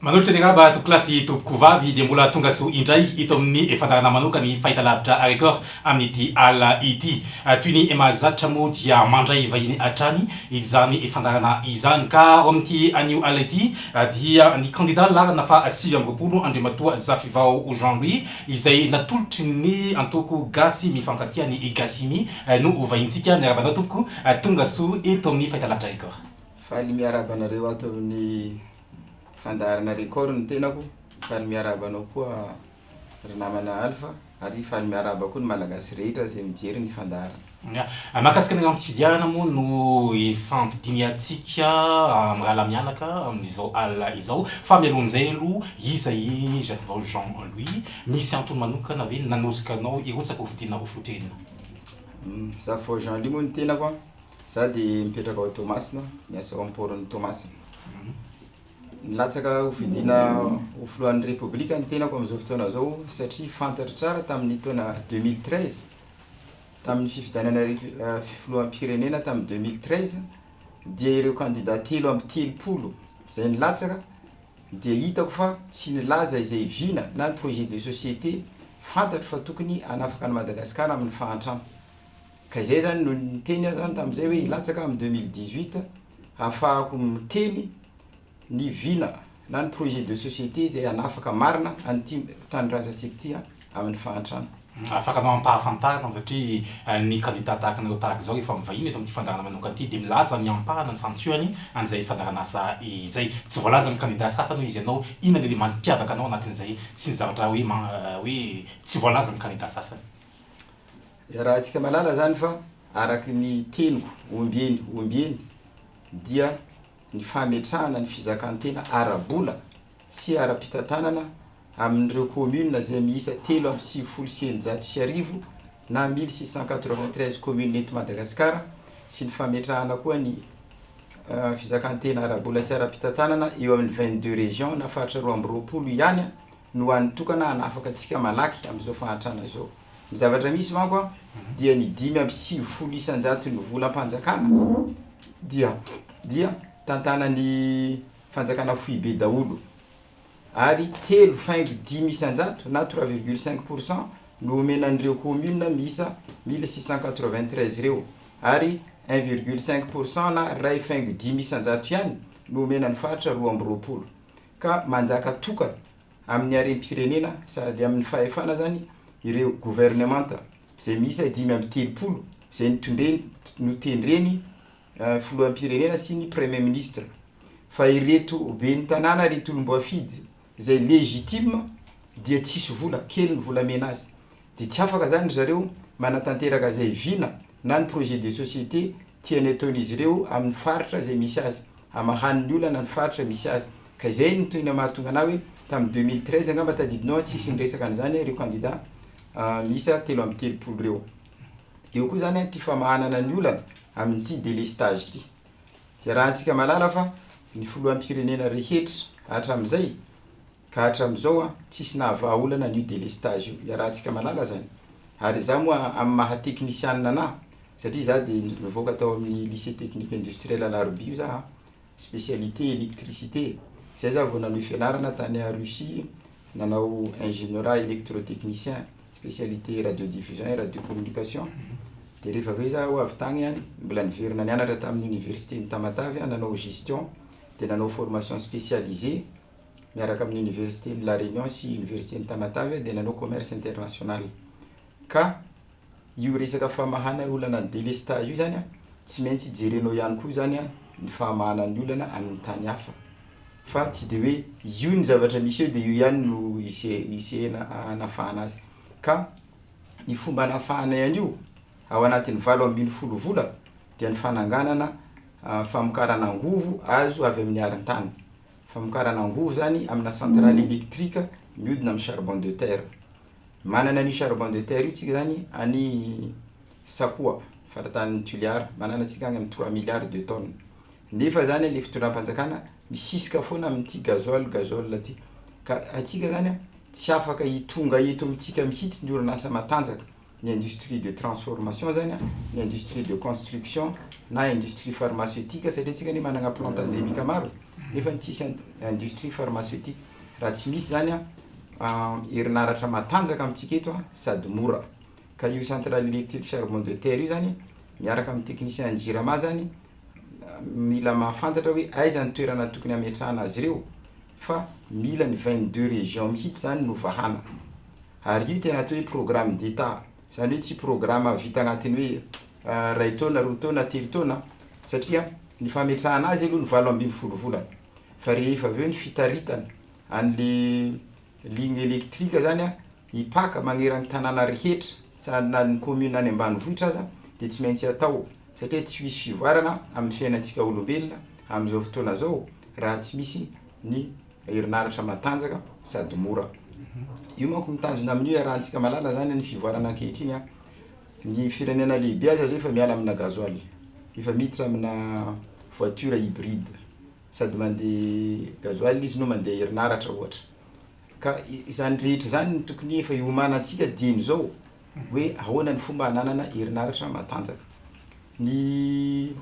Manolotra ny raba Topikilasy Tompoko vavy dia mbola tonga soa indray eto amin'ny fandaharana manoka ny fahitalavitra Record amin'ity alina ity. Toy ny mahazatra moa dia mandray vahiny hatrany izany fandaharana izany ka ao amin'ity anio alina ity dia ny kandida laharana faha sivy amby roapolo Andriamatoa Zafivao Jean Louis izay natolotry ny antoko gasy mifankatia ny Gasimi no ho vahintsika. Miarahaba anao Tompoko, tonga soa eto amin'ny fahitalavitra Record. Faly miarahaba anareo ato amin'ny fandaharana Record ny tenako, faly miarahaba anao koa ry namana Alpha ary faly miarahaba koa ny Malagasy rehetra izay mijery ny fandaharana. Ny mahakasika ny làlam-pifidianana moa no ifampidinihantsika mirahalahy mianaka amin'izao alina izao. Fa mialohan'izay aloha, iza i Jacques Jean Louis? Misy antony manokana ve nanosika anao hirotsaka ho fidiana ho filoham-pirenena? Jacques Jean Louis moa ny tenako. Za de mipetraka ao Toamasina, miasa ao am port-n'i Toamasina. Nilatsaka ho fidiana ho filohan'ny Repoblika ny tenako amin'izao fotoana zao satria fantatro tsara tamin'ny taona deux mille treize, tamin'ny fifidianana filoham-pirenena tamin'ny deux mille treize, dia ireo kandida telo amby telopolo izay nilatsaka dia hitako fa tsy nilaza izay vina na ny projet de société fantatro fa tokony hanafaka an'i Madagasikara amin'ny fahantrana. Ka izay izany no niteny aho izany tamin'izay hoe hilatsaka aho amin'ny deux mille dix huit hahafahako miteny ny vina na ny projet de société izay hanafaka marina an'ity tanindrazantsika ity amin'ny fahantrana. Afaka anao ampahafantarina fa satria ny kandida tahaka anareo tahaka izao rehefa mivahiny eto amin'ity fandaharana manokana ity dia milaza ny ampahany, ny santionany an'izay fandaharanasa izay. Tsy voalazan'ny kandida sasany hoe izy ianao inona ilay mampiavaka anao anatin'izay sy ny zavatra hoe hoe tsy voalazan'ny kandida sasany. Zarahantsika malala zany fa araky ny teniko ombieny ombieny dia ny fametrahana ny fizakan-tena ara-bola sy ara-pitantanana amin'ireo communes izay miisa telo amby sivifolo sy eninjato sy arivo na mille six cent quatre-vingt-treize communes eto Madagasikara sy ny fametrahana koa ny fizakan-tena ara-bola sy ara-pitantanana eo amin'ny vingt-deux régions na faritra roa amby roapolo ihany no hany tokana hanafaka antsika malaky amin'izao fahantrana izao. Ny zavatra misy manko an, dia ny dimy amby sivifolo isan-jaton'ny volam-panjakana dia dia tantanan'ny fanjakana foibe daholo, ary telo faingo dimy isan-jato na trois virgule cinq pour cent no omena an'ireo communes miisa mille six cent quatre vingt treize ireo, ary un virgule cinq pour cent na iray faingo dimy isan-jato ihany no omena ny faritra roa amby roapolo, ka manjaka tokana amin'ny harem-pirenena sady amin'ny fahefana izany ireo governemanta izay miisa dimy amby telopolo izay notondreny notendreny filoham-pirenena sy ny premier ministre fa ireto ben'ny tanàna ireto olom-boafidy izay legitime dia tsisy vola kely ny volamena azy Dia tsy afaka izany ry zareo manatanteraka izay vina na ny projet de société tiany ataon'izy ireo amin'ny faritra izay misy azy, hamahany ny olana ny faritra misy azy. Ka izay no tena mahatonga anah hoe tamin'ny deux mille treize angamba tadidinao an, tsisy niresaka an'izany ireo candidats miisa telo amby telopolo ireo. Eo koa izany ity famahanana ny olana amin'ity délestage ity. Iarahantsika mahalala fa ny filoham-pirenena rehetra hatramin'izay, Ka hatramizao an tsisy nahavaha olana an'io delestage io, iarahantsika malala zany. Ary za moa amin'ny maha teknisianina anah, satria za dia nivoaka tao amin'ny lycée technique industriel Alarobia io za an, spécialité électricité, zay za vao nanohy fianarana tany a Russie, nanao ingénierat électrotechnicien, spécialité radiodiffusion et radiocommunication, dia rehefa avy eo za ho avy tagny an, mbola niverina nianatra tamin'ny université-n'i Tamatave an, nanao gestion, dia nanao formation spécialisée, miaraka amin'ny Oniversiten'i La Réunion sy Oniversiten'i Tamatave dia nanao commerce international. Ka io resaka famahana olana ny délestage io izany tsy maintsy jerenao ihany koa izany ny fahamahana ny olana amin'ny tany hafa. Fa tsy dia hoe io ny zavatra misy eo dia io ihany no hisehena hanafahana azy. Ka ny fomba hanafahanay an'io ao anatin'ny valo ambin'ny folo vola dia ny fananganana famokarana angovo azo avy amin'ny arintany. Famokarana angovo izany amina centrale électrique mihodina amin'ny charbon de terre. Manana an'io charbon de terre io tsika izany any Sakoa, faritanin'i Toliara. Manana antsika any amin'ny trois milliards de tonnes. Nefa izany ilay fitondram-panjakana misisika foana amin'ity gasoil, gazole ity. Ka antsika izany tsy afaka hitonga eto amintsika mihitsy ny orinasa matanjaka. ny industrie de transformation zany an, ny industrie de construction na industrie pharmaceutique satria tsika anie manana plante endemique maro e, nefa tsisy industrie pharmaceutique, raha tsy misy zany an herinaratra matanjaka amintsika eto an sady mora, ka io centrale électrique charbon de terre io zany miaraka amin'ny technicien an'ny jirama zany mila mahafantatra hoe aiza ny toerana tokony hametrahana azy ireo, fa mila ny vingt deux régions mihitsy izany no vahana ary io tena atao hoe programme d'Etat izany hoe tsy programa vita anatin'ny hoe iray taona, roa taona, telo taona satria ny fametrahana azy aloha ny valo ambin'ny folo volana fa rehefa avy eo ny fitaritana an'le ligne électrique izany an hipaka maneran'ny tanàna rehetra na ny commune any ambanivohitra aza dia tsy maintsy atao satria tsy hisy fivoarana amin'ny fiainantsika olombelona amin'izao fotoana izao raha tsy misy ny herinaratra matanjaka sady mora. Io manko mitazona amin'io iarahantsika malala izany ny fivoarana ankehitriny an! Ny firenena lehibe aza izao efa miala amina gasoil, efa miditra amina voiture hybride, sady mandeha gasoil izy no mandeha herinaratra ohatra. Ka izany rehetra izany no tokony efa iomanantsika dieny izao hoe ahoana ny fomba hananana herinaratra matanjaka. Ny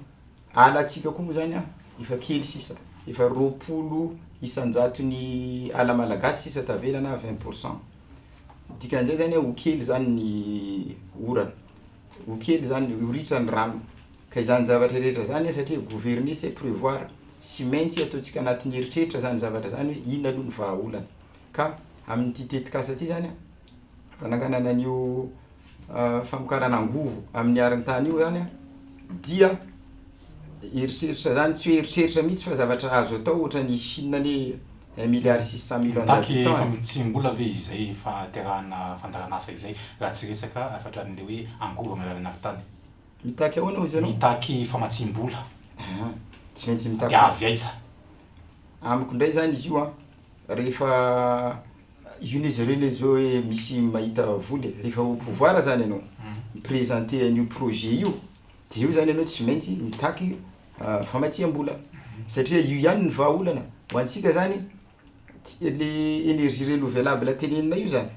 alantsika koa moa izany an, efa kely sisa, efa roapolo isan-jaton'ny ala malagasy sisa tavela na vingt pour cent. Ny dikan'izay izany hoe ho kely izany ny orana, ho kely izany, ho ritra ny rano. Ka izany zavatra rehetra izany an, satria gouverner c'est prévoir, Tsy maintsy ataontsika anatin'ny eritreritra izany zavatra izany hoe inona aloha ny vahaolana. Ka amin'ity tetikasa ity izany an, fananganana an'io famokarana angovo amin'ny arintany io izany an, dia eritreritra izany, tsy hoe eritreritra mihitsy fa zavatra azo atao ohatra ny Chine anie un milliard six cent millions d'habitants an. Mitaky famitsiam-bola ve izay fahaterahana fandaharan'asa izay raha tsy resaka afatran'ilay hoe angovo amin'ny alalan'ny arintany? Mitaky ahoana hozy ianao? Mitaky famatsiam-bola. Aha, tsy maintsy mitaky. Dia avy aiza? Amiko indray izany izy io an, rehefa io ne zareo ne zao hoe misy mahita vola e, rehefa au pouvoir zany ianao, mi-presenter an'io projet io, dia eo zany ianao tsy maintsy mitaky famatsiam-bola, satria io ihany ny vahaolana, ho antsika zany le energie renovelable teneninay io zany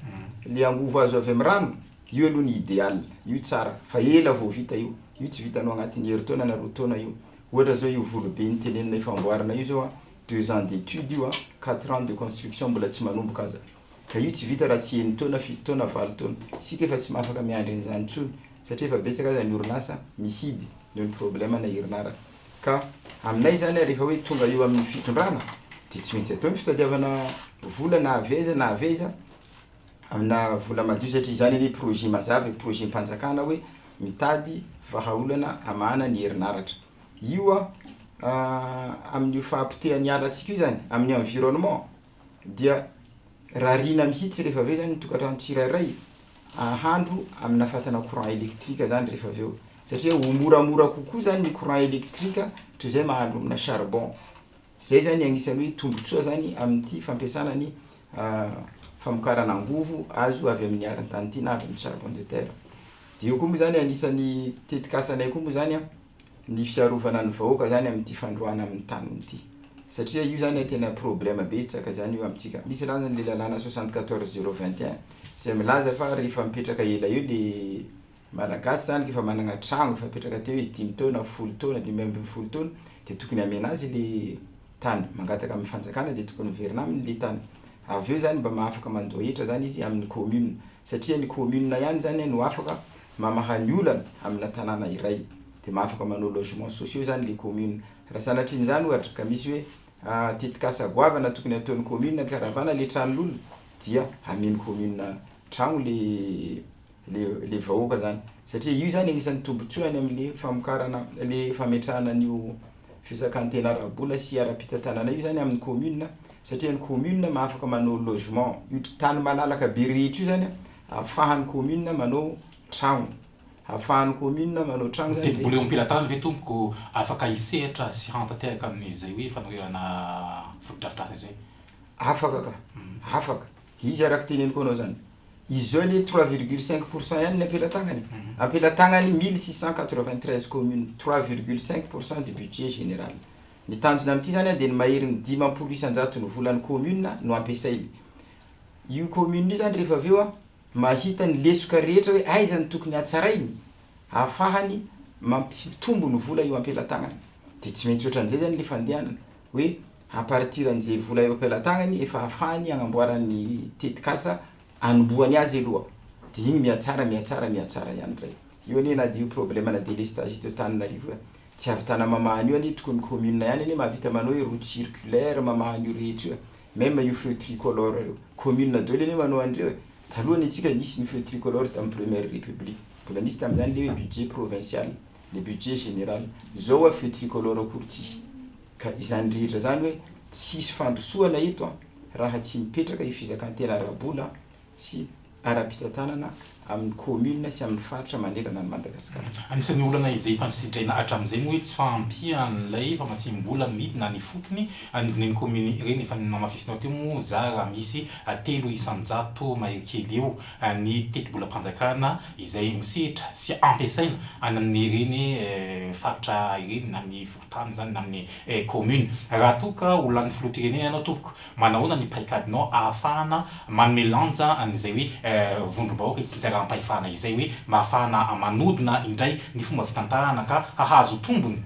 le angovo azo avy am rano io aloha ny ideal io tsara fa ela vao vita io io tsy vitanao agnatin'ny herintaona na roa taona io ohatra zao io volobe niteneninay famboarana io zao a deux ans d'étude io a quatre ans de construction mbola tsy manomboka aza ka io tsy vita raha tsy enintaona fito taona valo taona isika efa tsy mahafaka miandry an'izany intsony satria efa betsaka aza ny orinasa mihidy noho ny problème na herinaratra Ka aminay izany rehefa hoe tonga eo amin'ny fitondrana dia tsy maintsy atao ny fitadiavana vola na avy aiza na avy aiza amina vola madio satria izany anie projet mazava e, projet-mpanjakana hoe mitady vahaolana hamahana ny herinaratra. Io amin'io fahapotehan'ny ala antsika io izany, amin'ny environnement. dia rariana mihitsy rehefa avy eo izany ny tokantrano tsirairay ahandro amina fatana courant électrique izany rehefa avy eo satria ho moramora kokoa izany ny courant électrique toy izay mahandro amina charbon. Izay izany anisan'ny hoe tombontsoa izany amin'ity fampiasana ny famokarana angovo azo avy amin'ny arintany ity na avy amin'ny charbon de terre. Dia io koa moa izany anisan'ny tetikasanay koa moa izany an! ny fiarovana ny vahoaka zany amin'ity fandroahana amin'ny taniny ity satria io zany tena problème betsaka zany io amintsika misy raha zany le lalàna soixante quatorze zero vingt et un izay milaza fa rehefa mipetraka ela eo le malagasy zany k'efa managna tragno efa mipetraka teo izy dimy taona folo taona dimy ambin'ny folo taona de tokony hamena azy le tany mangataka amin'ny fanjakana de tokony miverina aminy le tany avy eo zany mba mahafaka mandoa hetra zany izy amin'ny commune satria ny commune ihany zany no afaka mamaha ny olana amina tanàna iray dia mba afaka manao logements sociaux izany ilay commune. Raha sanatria an'izany ohatra ka misy hoe tetikasa goavana tokony hataon'ny commune hikaravana ilay tranon'olona dia amen'ny commune tragno ilay ilay vahoaka izany satria io izany anisan'ny tombotsoa any amin'ilay famokarana ilay fametrahana an'io fisakan-tena ara-bola sy ara-pitantanana io izany amin'ny commune satria ny commune no afaka manao logement. Io tany malalaka be rehetra io izany an! Afahan'ny commune manao tragno. Afahan'ny commune manao tragno zany dia. Ny tendrombola eo am-pelatany ve tompoko afaka hisehatra sy hantanteraka an'izay hoe fanoherana fotodrafitrasa izay? Afaka ka. Afaka. Izy araka teneniko anao zany. Izy zao anie trois virgule cinq pour cent ihany ny am-pelatàgnany. Am-pelatàgnany mille six cent quatre vingt treize communes, trois virgule cinq pour cent du budget général. Ny tanjona amin'ity zany dia ny maherin'ny dimampolo isan-jaton'ny volan'ny commune no ampiasainy. Io commune io zany rehefa avy eo mahita ny lesoka rehetra hoe aiza no tokony hatsarainy ahafahany mampitombo ny vola eo am-pelantagnany. Dia tsy maintsy ohatran'izay zany le fandehanana hoe à partir an'izay vola eo am-pelantagnany efa ahafahany agnamboarany ny tetikasa anombohany azy aloha. Dia igny mihatsara, mihatsara, mihatsara ihany ndray. Io anie na dia io problème ana délestage eto Antananarivo io, tsy avy Tanamamahan'io anie tokony commune ihany anie mahavita manao hoe route circulaire mamahan'io rehetra io e. Même io feu tricolore io, commune daholo anie manao an'ireo e! Taloha anie tsika nisy ny feu tricolore tamin'ny première république, mbola nisy tamin'izany le hoe budget provincial, le budget général. Zao hoa feu tricolore akory tsisy. Ka izany rehetra izany hoe tsisy fandrosoana eto an! raha tsy mipetraka io fizakan-tena ara-bola sy ara-pitantanana amin'ny kaominina sy amin'ny faritra manerana an'i Madagasikara. Anisan'ny olana izay efa sitraina hatramin'izay moa etsy fa ampian'ilay famatsiam-bola midina ny fotony anivon'iny kaominina ireny. Efa namafisinao teo moa za raha misy telo isan-jato mahery kely eo ny tetibolam-panjakana izay misetra sy ampiasaina any amin'ireny faritra ireny na ny fokontany izany na ny kaominina. Raha toa ka ho lanin'ny filoham-pirenena ianao tompoko Manahoana ny paikadinao ahafahana manome lanja an'izay hoe vondrom-bahoaka itsinjarampahefana izay hoe mba ahafahana manodina indray ny fomba fitantanana ka hahazo tombony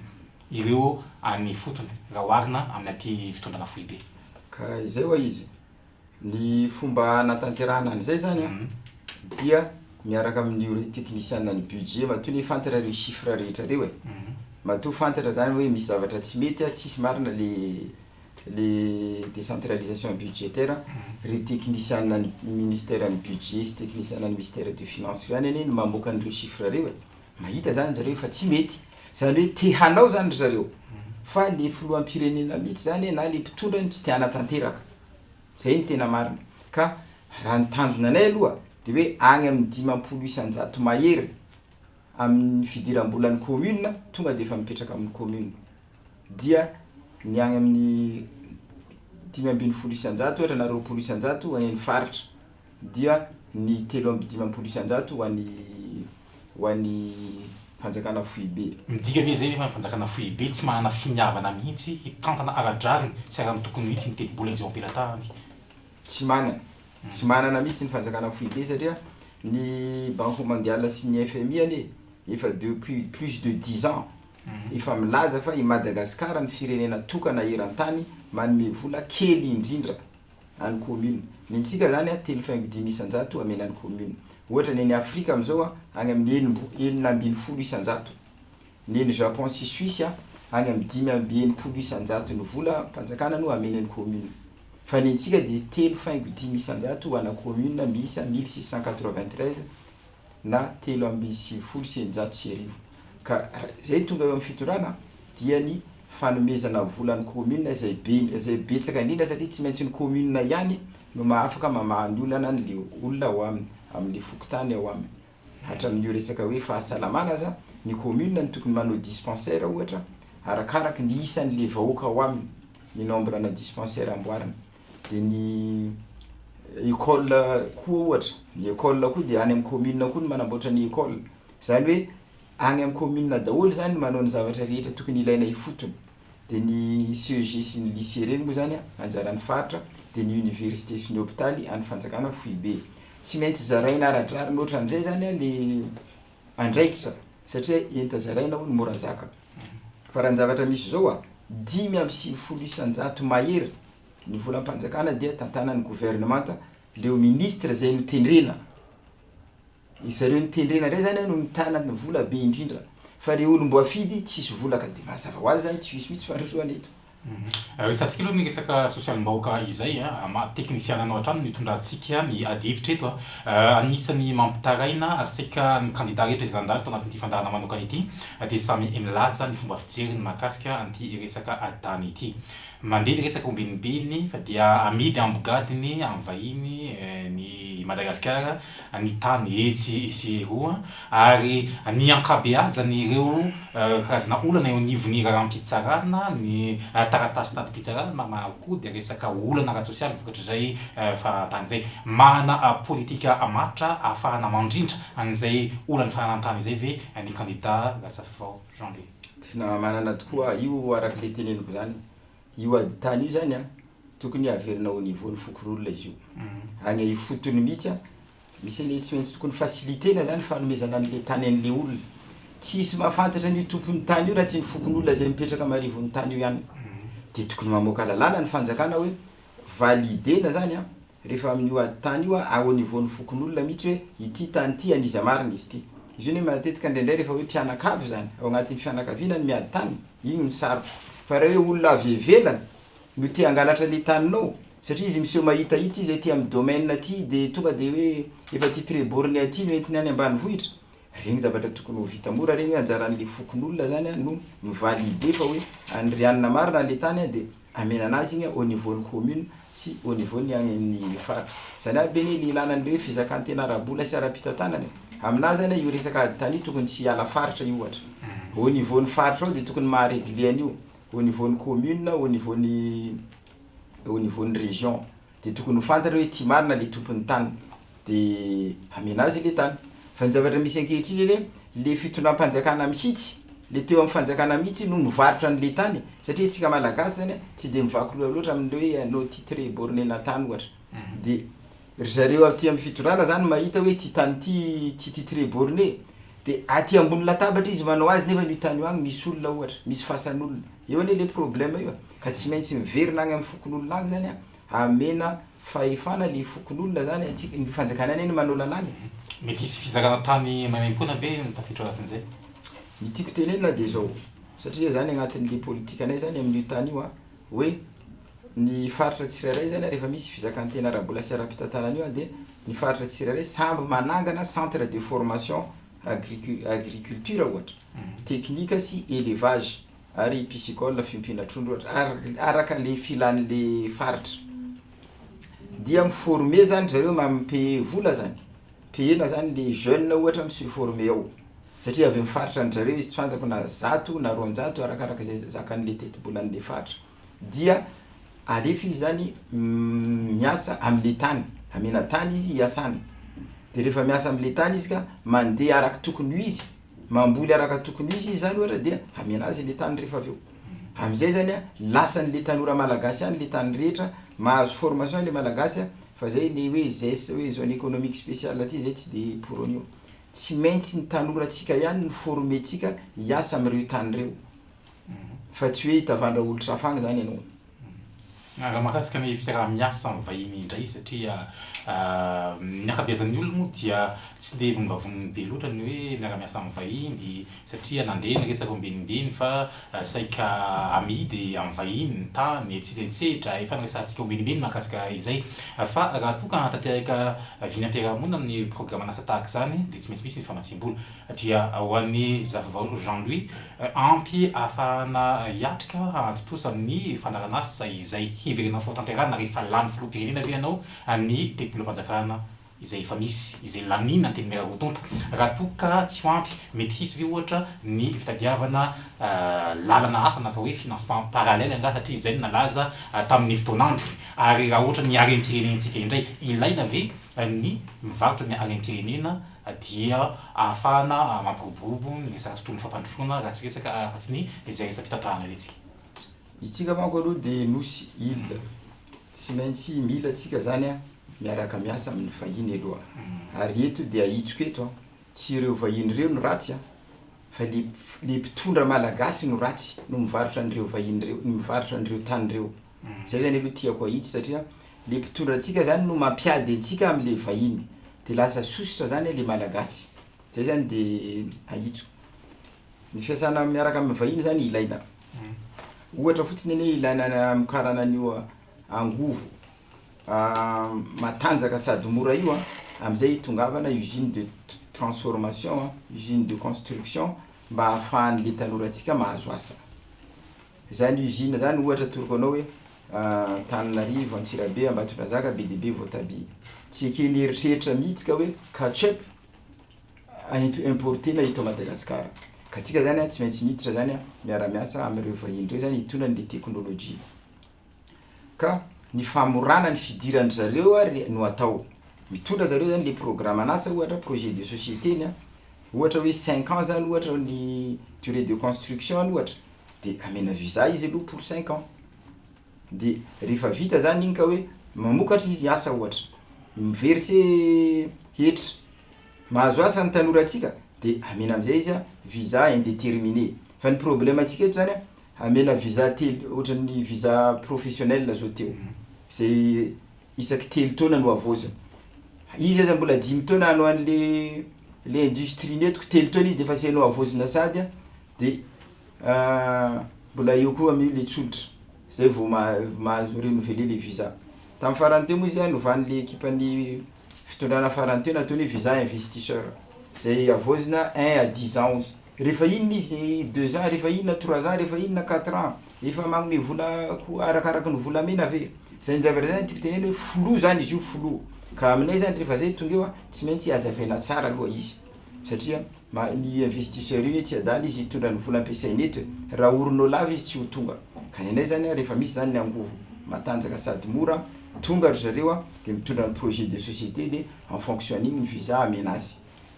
ireo any ifotony raha oharina amin'ity fitondrana foibe? Ka izay ho'a izy, ny fomba hanatanterahana an'izay izany an, dia miaraka amin'io re teknisiana ny budget, matoa anie fantatra ireo chiffres rehetra ireo e, matoa fantatra izany hoe misy zavatra tsy mety an, tsisy marina le. le décentralisation budgétaire ry teknisianina ny ministère ny budget sy teknisianina ny mistère de finance ry any anie no mamoaka an'ireo chiffre reo e mahita zany zareo fa tsy mety zany hoe te hanao zany ry zareo fa le filoham-pirenena mihitsy zany e na le mpitondra no tsy te hanatanteraka zay no tena marina ka raha ny tanjona anay aloha de hoe any amin'ny dimampolo isan-jato mahery amin'ny fidiram-bolan'ny commune tonga de efa mipetraka amin'ny commune dia ny any amin'ny dimy ambin'ny folo isan-jato ohatra na roapolo isan-jato ho any amin'ny faritra, dia ny telo amby dimampolo isan-jato ho an'ny ho an'ny fanjakana foibe. Midika ve izay nefa ny fanjakana foibe tsy manana finiavana mihitsy hitantana ara-drariny sy ara-notokony mihitsy ny tetibola izay eo am-pelatahany? Tsy manana. Tsy manana mihitsy ny fanjakana foibe satria ny Banque Mondiale sy ny FMI anie efa depuis plus de dix ans Efa milaza fa i Madagasikara ny firenena tokana eran-tany manome vola kely indrindra an'ny commune. Ny antsika izany a, telo faingo dimy isan-jato amena ny commune. Ohatra ny any Afrika amin'izao a, any amin'ny enimbo, enina ambin'ny folo isan-jato. Ny eny Japon sy Suisse a, any amin'ny dimy amby enimpolo isan-jato ny vola mpanjakana no amena ny commune. Fa ny antsika dia telo faingo dimy isan-jato ana commune miisa mille six cent quatre-vingt-treize. na telo amby sivifolo sy eninjato sy arivo ka izay tonga eo amin'ny fitondrana dia ny fanomezana vola ny kaominina izay be indrindra, izay betsaka indrindra satria tsy maintsy ny kaominina ihany no mahafaka mamaha ny olana an'ilay olona ao aminy, amin'ilay fokontany ao aminy. Hatramin'io resaka hoe fahasalamana aza, ny kaominina no tokony manao dispensaire ohatra, arakaraka ny isan'ilay vahoaka ao aminy, ny nombre-na dispensaire amboarina. Dia ny école koa ohatra, ny école koa dia any amin'ny commune koa no manamboatra ny école, izany hoe any amin'ny commune daholo izany no manao ny zavatra rehetra tokony ilaina ifotony, dia ny CEG sy ny lycée ireny moa izany an anjaran'ny faritra, dia ny université sy ny hôpitaly an'ny fanjakana foibe. Tsy maintsy zaraina ara-drariny ohatran'izay izany an le. andraikitra satria enta zaraina hono mora zaka fa raha ny zavatra misy izao a dimy amby sivifolo isan-jato mahery ny volam-panjakana dia tantanan'ny governemanta leo ministra zay no tendrena ry zareo no tendrena ndray zany a no mitana ny vola be indrindra fa ry olom-boafidy tsisy vola ka dia mazava ho azy zany tsy misy mihitsy fandrosoana eto Resahantsika aloha ny resaka sosialim-bahoaka izay an, maha teknisiana anao hatrany no hitondrantsika ny adihevitra eto an. Anisan'ny mampitaraina ary saika ny kandida rehetra izay nandalo tao anatin'ity fandaharana manokana ity dia samy nilaza ny fomba fijeriny mahakasika an'ity resaka adany ity. Mandeha ny resaka omben'ombeny fa dia amidy amim-bogadiny amin'ny vahiny ny i Madagasikara ny tany etsy sy eroa ary ny ankabeazan'ireo karazana olana eo anivon'ny raharaham-pitsarana, ny taratasy tadim-pitsarana na maro koa dia resaka olana ara-tsosialy vokatr'izay fahanan'tany izay. Manana politika matotra ahafahana mandrindra an'izay olan'ny fahanan'tany izay ve ny kandida Razafifao Jean Louis? Tena manana tokoa, io araka ilay teneniko izany. Io ady tany io zany an, tokony averina au niveau ny fokorolona izy io. Agny ifotony mihitsy an, misy an'le tsy maintsy tokony faciliter-na zany fanomezana an'le tany an'le olona. Tsy hisy mahafantatra an'io tompon'ny tany io raha tsy ny fokonolona izay mipetraka marivon'ny tany io ihany. Dia tokony mamoaka lalàna ny fanjakana hoe valider-na zany an, rehefa amin'io ady tany io a au niveau-n'ny fokonolona mihitsy hoe ity tany ity an'iza marina izy ity. Izy io anie matetika indraindray rehefa hoe mpianakavy izany, ao anatin'ny fianakaviana ny miady tany, iny no sarotra. Fa raha hoe olona avy ivelany no te hangalatra le taninao, satria izy miseho mahitahita izy aty amin'ny domaine aty dia tonga dia hoe efa aty Trebourne aty no entiny any ambanivohitra, Regny zavatra tokony ho vita mora regny anjaran'le fokonolona zany a no mi valider fa hoe an'i Rianina marina le tany a de amenana azy igny a au niveau ny commune sy au niveau ny agny amin'ny faritra. Zany aby anie le ilana an'le hoe fizakantena ara-bola sy ara-pitantanana e. Aminahy zany a io resaka ady tany io tokony tsy hiala faritra io ohatra. Au niveau ny faritra ao de tokony maha regler an'io au niveau ny commune, au niveau ny au niveau ny region. dia tokony ho fantany hoe tia marina ilay tompon'ny tany dia hamena azy ilay tany. Fa ny zavatra misy ankehitriny anie, ilay fitondram-panjakana mihitsy, ilay teo amin'ny fanjakana mihitsy no mivarotra an'ilay tany e! satria isika Malagasy zany tsy dia mivaky loha loatra amin'ilay hoe anao titre borne na tany ohatra, dia ry zareo aty amin'ny fitondrana zany mahita hoe ity tany ity tsy titre borne dia aty ambony latabatra izy manao azy nefa io tany io any misy olona ohatra, misy fasan'olona, eo anie ilay problème io e! Ka tsy maintsy miverina agny am fokonolona agny zany hamena fahefana le fokonolona zany a, tsy ny fanjakana anie no manao lalàna e. Mety hisy fizakana tany maimaimpoana ve no tafiditra anatin'izay? Ny tiako tenenina dia izao, satria zany agnatin'le politikanay zany amin'io tany io a, hoe ny faritra tsirairay zany a rehefa misy fizakantena ara-bola sy ara-pitantanana an'io a dia ny faritra tsirairay samby manangana centre de formation agricu- agriculture ohatra, teknika sy elevage. Ary piscicole fiompiana trondro ohatra ary araka le filan'le faritra dia mi former zany ry zareo mi payer vola zany payena zany le jeune ohatra mi se former ao satria avy am faritra an-dry zareo izy tsy fantako na zato na roanjato arakarak'izay zakan'le tetibolan'le faritra. dia alefa izy zany miasa amle tany amena tany izy hiasana de refa miasa amle tany izy ka mandeha araka tokony ho izy mamboly araka tokony ho izy izy zany ohatra dia amena azy le tany refa avy eo amizay zany a lasanle tanora malagasy any le tany rehetra mahazo formation le malagasy a fa zay le hoe zess hoe zone economique spéciale ty zay tsy de pour an'io tsy maintsy ny tanoratsika ihany no former-tsika hiasa amreo tany reo fa tsy hoe hitavandra olotr hafa any zany ianao. Raha mahakasika ny fiaraha miasa amin'ny vahiny indray satria ny ankabeazan'ny olona moa dia tsy dia vonivavoniny be loatra ny hoe miara miasa amin'ny vahiny satria nandeha ny resaka ombienimbeny fa saika amidy amin'ny vahiny ny tany etsy etsehitra efa niresahantsika ombienimbeny mahakasika izay fa raha toa ka hanatanteraka vina am-piarahamonina ny programan'asa tahaka izany dia tsy maintsy misy ny famatsiam-bola dia ho an'i Zafavao Jean Louis ampy ahafahana hiatrika hahatontosa ny fandaharanasa izay heverina fahatanterahana rehefa lany filoham-pirenena ve ianao ny tetibolam-panjakana izay efa misy izay laniana antenimiera roa tonta raha toa ka tsy ho ampy mety hisy ve ohatra ny fitadiavana lalana hafa na atao hoe financement parallèle angaha satria izay no nalaza tamin'ny fotoan'andro ary raha ohatra ny harem-pirenentsika indray ilaina ve ny vakiny any am-pirenena dia ahafahana mampiroborobo ny resaka tontolon'ny fampandrosoana raha tsy resaka afa-tsy ny izay resa-pitantarana hetsika. Itsika manko aloha dia nosy, île, tsy maintsy mila antsika izany miaraka miasa amin'ny vahiny aloha ary eto dia ahitsiko eto tsy ireo vahiny ireo no ratsy an! fa le le mpitondra malagasy no ratsy no mivarotra an'ireo vahiny ireo, mivarotra an'ireo tany ireo. Zay zany aloha tiako ahitsy satria le mpitondra antsika zany no mampiady antsika amle vahiny de lasa sosotra zany le malagasy zay zany de ahitso ny fiasana miaraka aminy vahiny zany ilaina ohatra fotsiny anie ilaina ny hamokarana an'io angovo matanjaka sady mora io an, amzay itongavana usine de transformation an, usine de construction mba ahafahanle tanorantsika mahazo asa. Izany usine zany ohatra atoroko anao hoe Antananarivo, Antsirabe, Ambatondrazaka, be dia be voatabia. Tsy eken'ny eritreritra mihitsy ka hoe catch-up ento importer-na eto Madagascar. Ka tsika zany tsy maintsy miditra zany miara-miasa amin'ireo vahiny ireo zany hitondrany le technologie. ka ny famorana ny fidiran-dry zareo ary no atao. Mitondra zareo zany le programan'asa ohatra, projet de société ny ohatra hoe cinq ans zany ohatra ny durée de construction ny ohatra, de amena visa izy aloha pour cinq ans, de rehefa vita zany iny ka hoe mamokatra izy asa ohatra, mi-verser hetra, mahazo asa ny tanorantsika de amena amizay izy visa indeterminé, fa ny problème antsika eto zany an, Hamela visa telo, ohatran'ny visa professionnel zao teo, izay isaky telo taona no havaozina. Izy aza mbola dimy taona hanao an'le le industrie-ny eto ko telo taona izy defa asainao havaozina sady a, de mbola eo koa amin'io le tsolotra, zay vao mahazo renouveler le visa. Tamin'ny farany teo moa izy a novan'le ekipan'ny fitondrana farany teo nataony hoe visa investisseur, zay havaozina un à dix ans ozy. Rehefa inona izy deux ans, rehefa inona trois ans, rehefa inona quatre ans, efa magnome vola ko arakaraky ny volamena ve? Zany zavatra zany tiako tenena hoe flou zany izy io flou, ka aminay zany rehefa zay tonga eo an, tsy maintsy azavaina tsara aloha izy satria ma- ny investisseur iny hoe tsy adala izy hitondra ny vola ampiasainy eto e, raha orinao lava izy tsy ho tonga, ka ny anay zany an rehefa misy zany ny angovo matanjaka sady mora, tonga ry zareo an de mitondra ny projet de société de en fonction an'iny ny visa amena azy.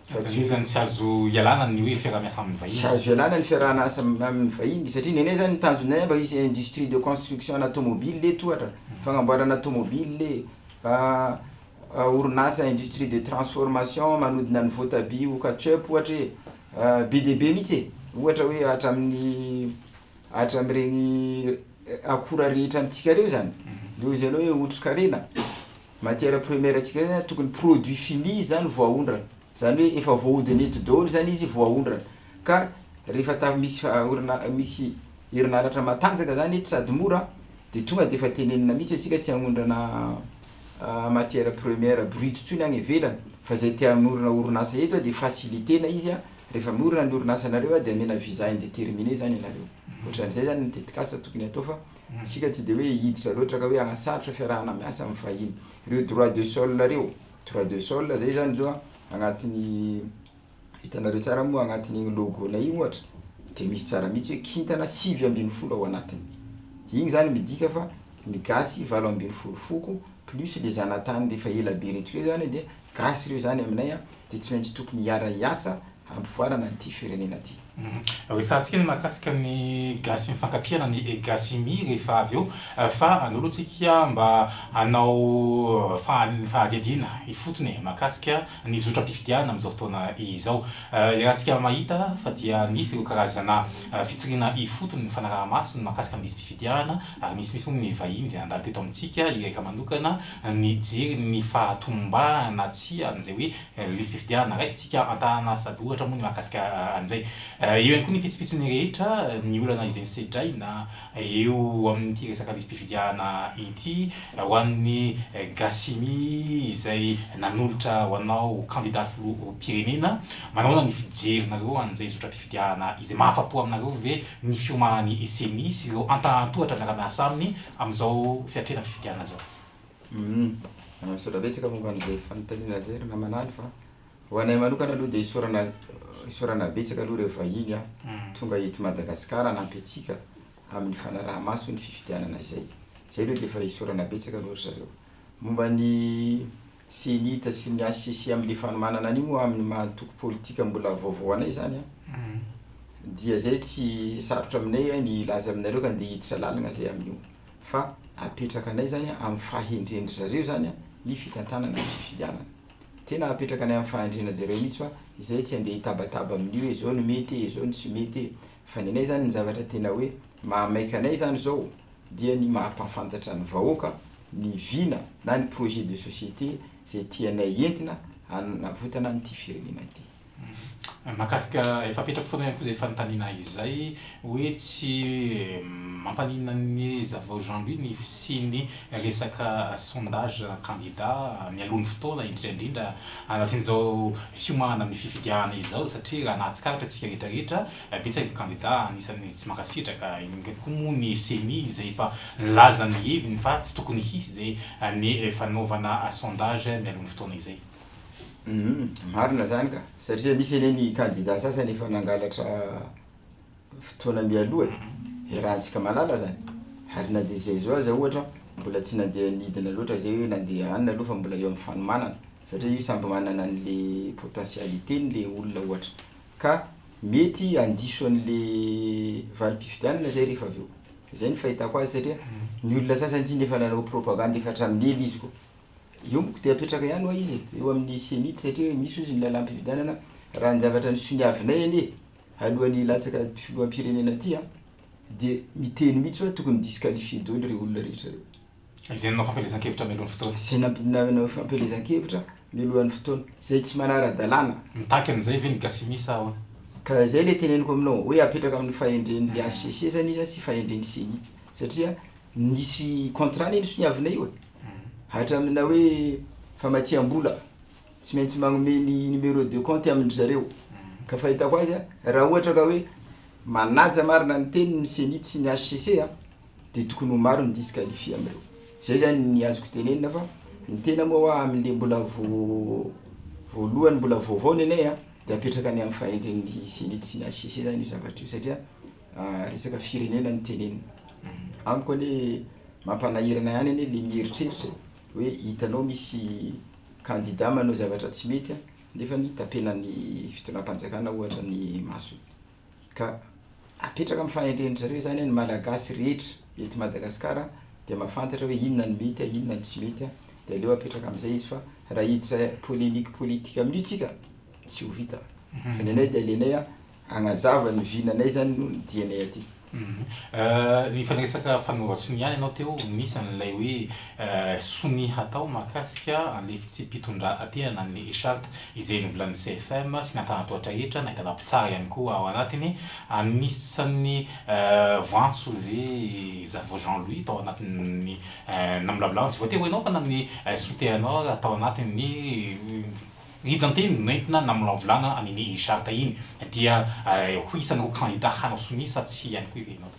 Fa tsy isan'ny tsy azo ialana ny hoe fiaraha-miasa amin'ny vahiny. Tsy azo ialana ny fiaraha-miasa amin'ny vahiny satria nenay izany ny tanjonay mba hisy industrie de construction ana tomobile eto ohatra, fanamboarana tomobile, orinasa industrie de transformation manodina ny voatabia ho ketchup ohatra e, be dia be mihintsy e, ohatra hoe hatramin'ny hatramin'ireny akora rehetra amintsika ireo izany, eo izy ianao hoe otrikaina. Matière première ntsika zany tokony produit fini zany vao aondrana, zany hoe efa voahodina eto daholo zany izy vao aondrana, ka rehefa ta misy orina- misy herinaratra matanjaka zany eto sady mora de tonga de efa tenenina mihitsy hoe tsika tsy agnondrana matière première brute tsony any ivelany fa zay te hanorina orinasa eto de faciliter-na izy a, rehefa miorina ny orinasanareo de amena visa indetermine zany ianareo, ohatran'izay zany ny tetikasa tokony atao fa. Isika tsy dia hoe hiditra loatra ka hoe hanasarotra fiarahana miasa amin'ny vahiny. Ireo droit de sol ireo, droit de sol izay izany zao an, agnatin'ny, hitanareo tsara moa agnatin'igny logo-nay igny ohatra, dia misy tsara mihitsy hoe kintana sivy ambin'ny folo ao anatiny. Igny zany midika fa ny gasy valo ambin'ny folo foko, plus le zanatany le efa ela be reto reo zany dia gasy reo zany aminay an, dia tsy maintsy tokony hiara-hiasa hampivoarana ity firenena ity. Resahantsika ny mahakasika ny gasy mifankatia na ny gasy mi rehefa avy eo fa andao aloha tsika mba hanao fanadihadiana ifotony e! mahakasika ny zotram-pifidianana amin'izao fotoana izao. Iarahantsika mahita fa dia misy ireo karazana fitsiriana ifotony mifanaraha-maso ny mahakasika ny lisi-pifidianana ary misimisy moa ny vahiny izay handalo teto amintsika hirehareha manokana ny hijery ny fahatombahana na tsia an'izay hoe Lisitry fifidianana, raisintsika an-tanana sady ohatra moa ny mahakasika an'izay. Eo ihany koa ny pitsopitsony rehetra, ny olana izay nosedraina eo amin'ity resaka lisi-pifidianana ity, ho an'ny Gasimi izay nanolotra ho anao ho kandida filoham-pirenena. Manahoana ny fijerinareo an'izay zotram-pifidianana izay? Mahafa-po aminareo ve ny fioman'ny Ceni sy ireo antanan-tohatra miara-miasa aminy amin'izao fiatrehana fifidianana izao? Humm, misaotra betsaka momba an'izay fanontaniana izay ry namana any fa ho anay manokana aloha dia isaorana isaorana betsaka aloha ireo vahiny tonga eto Madagasikara hanampy antsika amin'ny fanaraha-maso ny fifidianana izay. Izay aloha dia efa isaorana betsaka aloha ry zareo. Momba ny CENI-T sy ny HCC amin'ilay fanomanana an'io moa amin'ny maha antoko politika mbola vaovao anay izany an, dia izay tsy sarotra aminay ny hilaza aminareo ka ndeha hiditra lalana izay amin'io. fa apetraka anay zany amin'ny fahendren-dry zareo zany ny fitantanana ny fifidianana. Tena apetraka anay amin'ny fahendrena zareo mihitsy fa izay tsy andeha hitabataba amin'ny hoe zao no mety e, zao no tsy mety e. Fa ny anay zany ny zavatra tena hoe mahamaika anay zany zao dia ny mahampahafantatra ny vahoaka ny vina na ny projet de société zay tianay entina hanavotana an'ity firenena ity. Mahakasika, efa apetrako foana ihany koa izay fanontaniana izay hoe tsy mampaninona an'i Zavao Jean Louis ny fisian'ny resaka sondage na kandida mialoha ny fotoana, indrindra indrindra anatin'izao fiomana amin'ny fifidianana izao satria raha nahatsikaritra isika rehetra rehetra, betsaka ny kandida anisan'ny tsy mankasitraka, indrindra koa moa ny ceni izay efa nilaza ny heviny fa tsy tokony hisy izay ny fanaovana sondage mialoha ny fotoana izay. Humm marina zany ka satria misy anie ny kandida sasany efa nangalatra fotoana mialoha e, iarahantsika mahalala zany, ary na dia izay zao aza ohatra mbola tsy nandeha nidina loatra zay hoe nandeha any aloha fa mbola eo amin'ny fanomanana satria io samby manana an'le potentialités-ny le olona ohatra ka mety handiso an'le valim-pifidianana zay rehefa avy eo, zay ny fahitako azy satria ny olona sasany tsinona efa nanao propagande efa hatramin'ela izy koa. Eo moko dia apetraka ihany hoa izy e, eo amin'ny CENI satria hoe misy hozy ny lalam-pifidianana raha ny zavatra nisoniavinay anie alohan'ny hilatsaka filoham-pirenena aty an, dia miteny mihitsy hoe tokony disqualifier doly ireo olona rehetra ireo. Izay nanao fampielezan-kevitra mialohan'ny fotoana. Izay nanao fampielezan-kevitra mialohan'ny fotoana, izay tsy manara-dalàna. Mitaky an'izay ve ny Gasimi sa ahoana? Ka izay ilay teneniko aminao hoe apetraka amin'ny fahendren'ny hcc zany izy sy fahendren'ny ceni satria nisy contrat anie nisoniavinay io e. Hatramina hoe famatsiam-bola, tsy maintsy manome ny numéro de compte amin-dry zareo. Ka fahitako azy an, raha ohatra ka hoe manaja marina ny teniny ny ceni sy ny HCC an, dia tokony ho maro ny disqualifie amin'ireo. Izay izany ny azoko tenenina fa ny tena moa hoa amin'ilay mbola voalohany, mbola vaovao ny anay an, dia apetraka any amin'ny fahendren'ny ceni sy ny HCC izany io zavatra io satria. Resaka firenena no tenenina. Amiko anie mampanahirana ihany anie le mieritreritra hoe hitanao misy candidat manao zavatra tsy mety nefany tapenan'ny fitondram-panjakana ohatra ny masony. Ka apetraka amin'ny fahendren-dry zareo zany ny Malagasy rehetra eto Madagasikara dia mahafantatra hoe inona no mety, inona no tsy mety dia aleo apetraka amin'izay izy fa raha hiditra polemique politique amin'io tsika tsy ho vita. Fa ny anay dia alenay Agnazava ny vinanay zany no ny dianay aty. Efa niresaka fanaovan-sonia ianao teo, misy an'ilay hoe sonia hatao mahakasika an'ilay fitsipi-pitondrantena an'ilay e-charte izay novolan'ny CFM sy ny antanan-tohatra rehetra, nahitana mpitsara ihany koa ao anatiny. Anisan'ny voantso ve Zavo Jean Louis tao anatin'ny namolavolana, tsy voatery ho ianao fa na ny sotehanao ary, tao anatin'ny. Nijanteany nentina namolavolana an' i Ny Richard tahiny dia ho isan' ireo kandida hanao sonia sa tsia ihany koa i Renaud.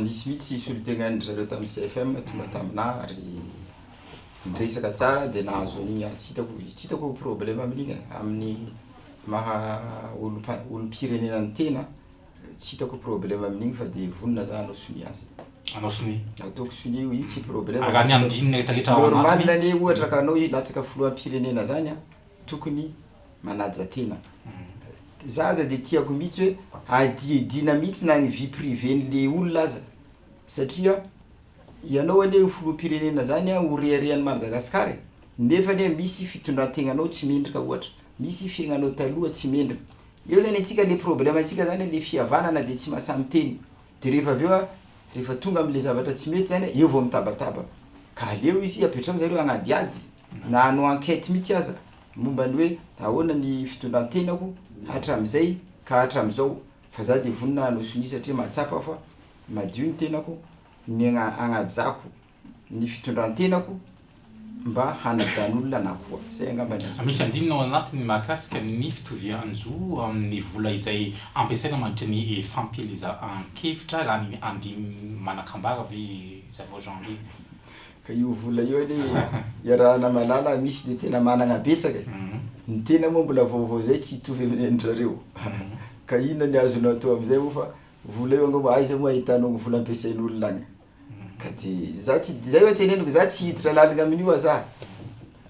Nisy mihitsy solontenan' dry zareo tamin' ny CFM tonga tamina ary niresaka tsara dia nahazo an' iny ary tsy hitako tsy hitako problema amin' iny e, amin' ny maha olom-pirenena ny tena Tsy hitako problème amin'igny fa dia vonona za hanao sonia azy. Hanao sonia? Ataoko sonia io, io tsy problème. Araha ny andininy rehetra rehetra ao anatiny. Normal anie ohatra ka anao hilatsaka filoham-pirenena zany an, tokony manaja tena. Za aza dia tiako mihitsy hoe hadihadiana mihitsy na ny vie privée n'le olona aza satria ianao anie ho filoham-pirenena zany an, ho reharehan'i Madagascar e, nefa anie misy fitondran-tegnanao tsy mendrika ohatra, misy fiaignanao taloha tsy mendrika, Eo zany antsika le problème antsika zany le fihavanana de tsy masaha miteny de rehefa avy eo a rehefa tonga amle zavatra tsy mety zany a eo vao mitabataba ka aleo izy apetrao zareo hanadihady na hanao enquête mihitsy aza momba ny hoe ahoana ny fitondrantenako hatramizay ka hatramizao fa za de vonona hanao sonia satria mahatsapa aho fa madio ny tenako ny agnajako ny fitondran-tenako mba hanajan' olona na koa. Izay angamba ny azoko. Misy andininy ao anatiny mahakasika ny fitovian-jo amin'ny vola izay ampiasaina mandritra ny fampielezankevitra raha ny andininy manakambara ve izany vao Jean Louis? Ka io vola io anie iarahana malala misy dia tena manana betsaka e! Ny tena moa mbola vaovao izay tsy hitovy amin'ny an-dry zareo. Ka inona ny azonao atao amin'izay moa fa vola io angamba aiza moa ahitanao ny vola ampiasain'olona any? Ka de za tsy zay hoe teneniko za tsy hiditra lalina amin'io aza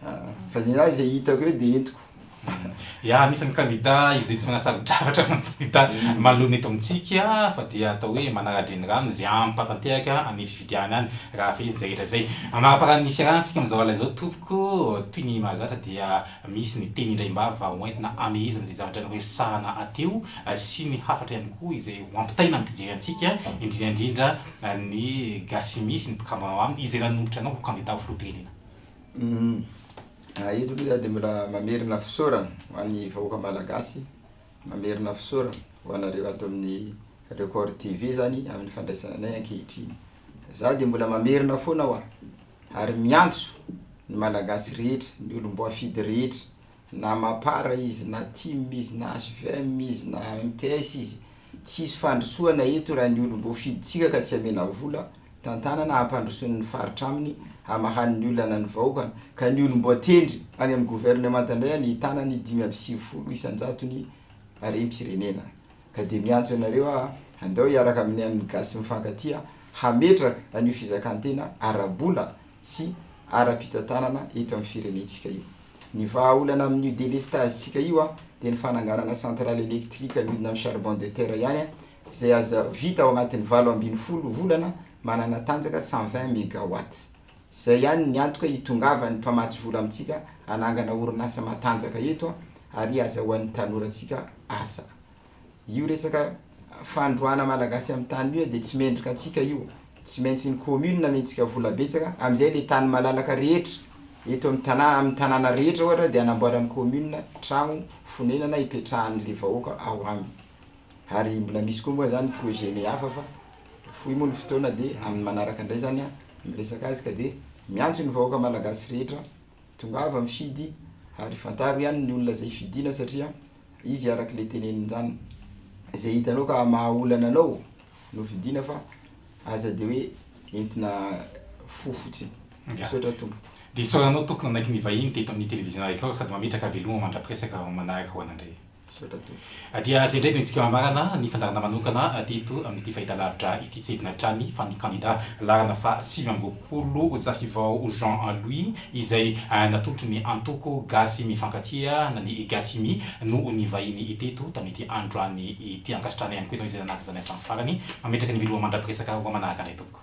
a! fa ny ahy zay hitako eo de entiko. Ya, misy ny kandida izay tsy manasa-drafatra ny kandida manoloana eto amintsika fa dia atao hoe manara-drenirano izay hampatanteraka any fifidianana any raha fehezina izay rehetra izay. Amaraparany ny fiarahantsika amin'izao alina izao tompoko, toy ny mahazatra dia misy ny teny indraim-bava ho entina hamehezana izay zavatra noresahana teo sy ny hafatra ihany koa izay ho ampitaina ny mpijery antsika indrindra indrindra Ny gasy misy ny mpikambana ao aminy izay nanombotra anao ho kandida ho filoham-pirenena. Eto aloha za de mbola mamerina fisaorana ho an'ny vahoaka malagasy, mamerina fisaorana ho anareo ato amin'ny Record TV zany amin'ny fandraisana anay ankehitriny. Za de mbola mamerina foana hoa, ary miantso ny malagasy rehetra, ny olom-boafidy rehetra. Na mapar izy na tim izy na hvm izy na mts izy tsy hisy fandrosoana eto raha ny olom boafidintsika ka tsy amena vola tantanana hampandrosoany ny faritra aminy hamahany ny olana ny vahoakany ka ny olom boatendry any amin'ny governemanta indray any hitana ny dimy amby sivifolo isanjatony harem pirenena ka dia miantso anareo aho handao hiaraka amin'ny an'ny gasy mifankatia hametraka an'io fizakantena ara bola sy ara-pitantanana eto amin'ny firenentsika io. Ny vahaolana amin'io delestazy-tsika io dia ny fananganana centrale électrique midina amin'ny charbon de terre ihany izay aza vita ao anatin'ny valo ambin'ny folo volana manana tanjaka cent vingt megawatts. Izay ihany ny antoka hitongavan'ny mpamatsy vola amintsika hanangana orinasa matanjaka eto ary hazahoan'ny tanorantsika asa. Io resaka fandroana malagasy am tany io de tsy mendrika antsika io, tsy maintsy ny commune amentsika vola betsaka, amzay le tany malalaka rehetra eto am tana am tanana rehetra ohatra de anamboaran'ny commune tragno fonenana ipetrahan'le vahoaka ao aminy, ary mbola misy koa moa zany projet ny hafa fa fohy moa ny fotoana de amin'ny manaraka ndray zany an miresaka azy ka de miantso ny vahoaka malagasy rehetra tongava mifidy ary fantaro ihany ny olona zay fidina satria izy araka le teneniny zany ze hitanao ka maha olana anao no vidina fa aza de hoe entina fo fotsiny. Misaotra tompoko. Dia isaora anao tompoko nanaiky nivahiny teto amin'ny televiziona araiky ao sady mametraka haveloma mandra-piresaka ho manaraka ho anandre. Misaotra tompoko. Dia izay indray no antsika mamarana ny fandaharana manokana teto amin'ity fahitalavitra ity. Tsy hidina hatrany fa ny kandida laharana faha sivy amby roapolo Zahivao Jean Louis izay natolotra ny antoko gasy mifankatia na ny Gasimi no nivahiny teto tamin'ity androany ity. Ankasitrahana ihany koa ianao izay nanaraka izany hatramin'ny farany. Mametraka ny veloma mandra-piresaka roa manaraka indray tompoko.